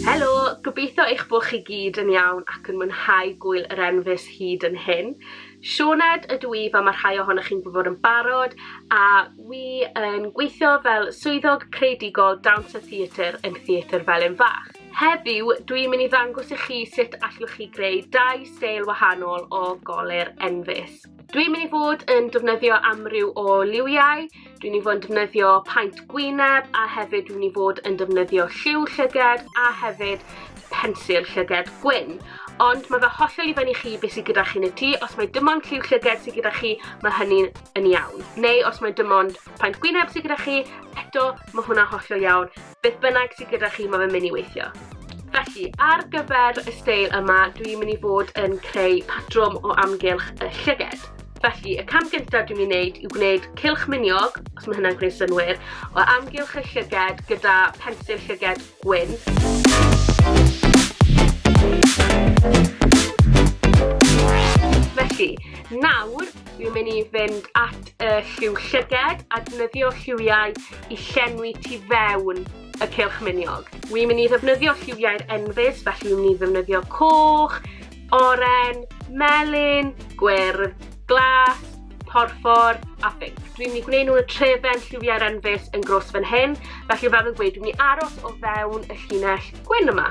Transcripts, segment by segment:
Helo, gobeithio eich bod chi gyd yn iawn ac yn mwynhau gwyl yr enfys hyd yn hyn. Sioned ydw i fel mae rhai ohonoch chi'n gwybod yn barod a wi yn gweithio fel swyddog creadigol Dawns a Theatr yn Theatr Felin Fach. Heddiw, dwi'n mynd i ddangos i chi sut allwch chi greu dau steil wahanol o golur enfys. Dwi'n mynd i fod yn defnyddio amryw o liwiau, dwi'n mynd i fod yn defnyddio paent gwyneb a hefyd dwi'n mynd i fod yn defnyddio lliw llyged a hefyd pensil llyged gwyn. Ond mae fe hollol i fyny chi beth sydd gyda chi yn y tŷ, os mae dim ond lliw llyged sydd gyda chi, mae hynny yn iawn. Neu os mae dim ond paent gwyneb sydd gyda chi, eto mae hwnna hollol iawn. Beth bynnag sydd gyda chi mae fe'n mynd i weithio. Felly, ar gyfer y steil yma, dwi'n mynd i fod yn creu patrwm o amgylch y llyged. Felly, y cam gyntaf dwi'n mynd i wneud yw gwneud cilch miniog, os mae hynna'n gwneud synwyr, o amgylch y llyged gyda pensil llyged gwyn. Felly, nawr dwi'n mynd i fynd at y lliw llyged a defnyddio lliwiau i llenwi tu fewn y cylch miniog. Wi'n mynd i ddefnyddio lliwiau'r enfys, felly wi'n mynd i ddefnyddio coch, oren, melyn, gwyrdd, glas, porffor a ffig. Dwi'n mynd i gwneud nhw y trefen lliwiau'r enfys yn gros fan hyn, felly fel fi'n gweud, dwi'n mynd i aros o fewn y llinell gwyn yma.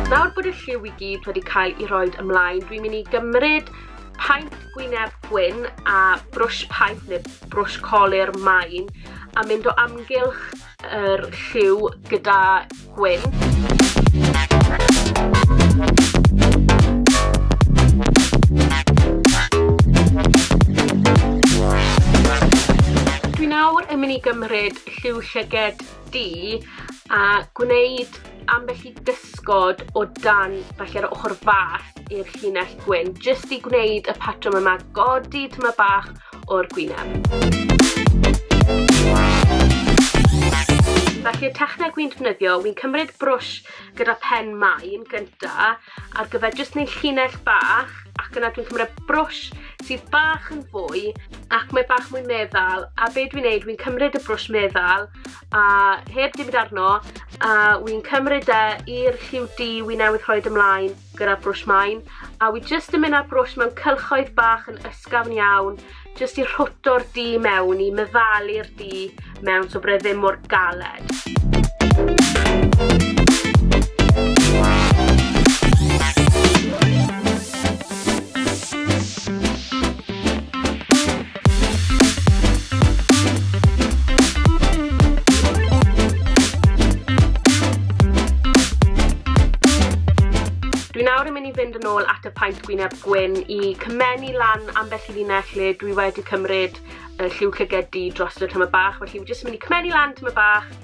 Nawr bod y lliw i gyd wedi cael ei roed ymlaen, dwi'n mynd i gymryd paent gwyneb gwyn a brwsh paent neu brwsh colur main a mynd o amgylch yr lliw gyda gwyn. Dwi nawr yn mynd i gymryd lliw llyged di a gwneud ambell i gysgod o dan falle'r ochr fach i'r llinell gwyn, jyst i gwneud y patrwm yma, godi tyma bach o'r gwyneb. Felly y techneg wy'n defnyddio, wy'n cymryd brwsh gyda pen main gynta ar gyfer jyst neu llinell bach ac yna dwi'n cymryd brwsh sydd bach yn fwy ac mae bach mwy meddal a be dwi'n neud wy'n cymryd y brwsh meddal a heb dim arno a wy'n cymryd e i'r lliw di wy'n newydd rhoi ymlaen gyda brwsh main, a wi jyst yn mynd â'r brwsh mewn cylchoedd bach yn ysgafn iawn, jyst i rhwto'r du mewn, i meddalu'r du mewn, so bod e ddim mor galed. Dwi nawr yn mynd i fynd yn ôl at y paent gwyneb gwyn i cymennu lan ambell i linell lle dwi wedi cymryd y lliw llygedi dros y tyma bach, felly fi jyst yn mynd i cymennu lan tyma bach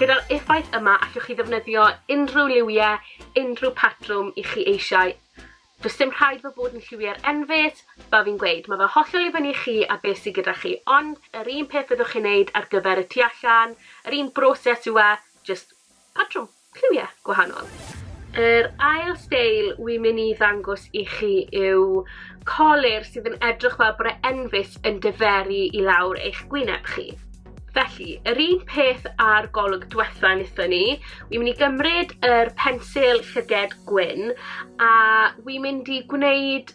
Gyda'r effaith yma allwch chi ddefnyddio unrhyw liwiau, unrhyw patrwm i chi eisiau. Does dim rhaid fo bod yn lliwiau'r enfys, fel fi'n gweud, mae fe hollol i fyny i chi a beth sydd gyda chi, ond yr un peth fyddwch chi'n neud ar gyfer y tu allan, yr un broses yw e, jyst patrwm. lliwie gwahanol. Yr ail steil wi myn' i ddangos i chi yw colur sydd yn edrych fel bod e enfys yn diferu i lawr eich gwyneb chi. Felly, yr un peth â'r golwg dwetha nithon ni, wi myn' i gymryd yr pensil llyged gwyn a wi mynd i gwneud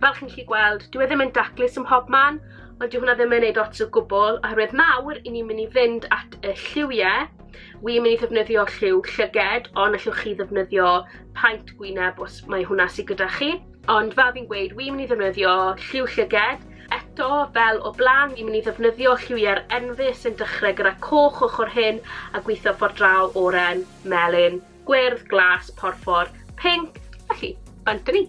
Fel chi'n gallu gweld, dyw e ddim yn daclus ym mhob man, ond dyw hwnna ddim yn neud ots o gwbl, oherwydd nawr, i ni'n mynd i fynd at y lliwie, wi'n mynd i ddefnyddio lliw llyged, ond allwch chi ddefnyddio paent gwyneb os mae hwnna sydd gyda chi. Ond fel fi'n gweud wi'n myn' i ddefnyddio lliw llyged. Eto, fel o bla'n, fi'n myn' i ddefnyddio lliwiau'r enfys sy'n dechrau gyda coch ochr hyn a gwitho ffordd draw, oren, melyn, gwyrdd, glas, porffor, pinc, felly, bant â ni.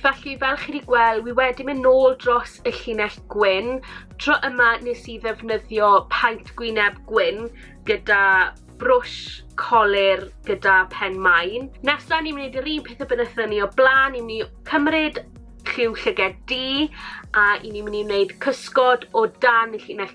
Felly, fel chi 'di gweld, wi wedi mynd nôl dros y llinell gwyn. Tro yma nes i ddefnyddio paent gwyneb gwyn gyda brwsh colur gyda pen main. Nesa ni'n mynd i neud yr un peth y bynnetho ni o bla'n, ni'n mynd i cymryd lliw llyged du a i ni'n mynd i wneud cysgod o dan y llinell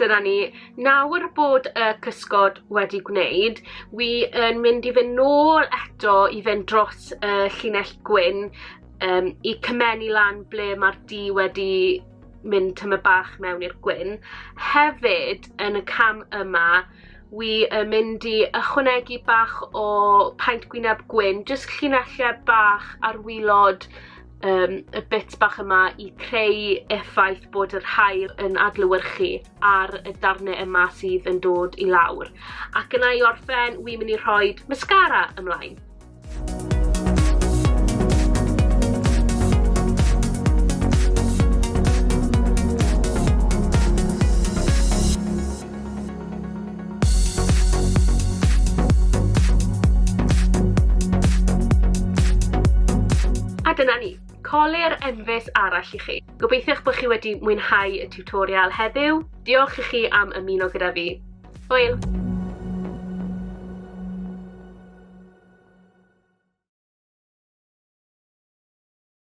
dyna ni. Nawr bod y cysgod wedi gwneud, wi yn mynd i fynd nôl eto i fynd dros y llinell gwyn um, i cymennu lan ble mae'r di wedi mynd tyma bach mewn i'r gwyn. Hefyd, yn y cam yma, wi yn mynd i ychwanegu bach o paent gwyneb gwyn, jyst llinellau bach ar wylod um, y bit bach yma i creu effaith bod yr haul yn adlywyrchu ar y darnau yma sydd yn dod i lawr. Ac yna i orffen, wi'n mynd i rhoi mascara ymlaen. A dyna ni, colir enfys arall i chi. Gobeithiwch bod chi wedi mwynhau y tutorial heddiw. Diolch i chi am ymuno gyda fi. Hwyl!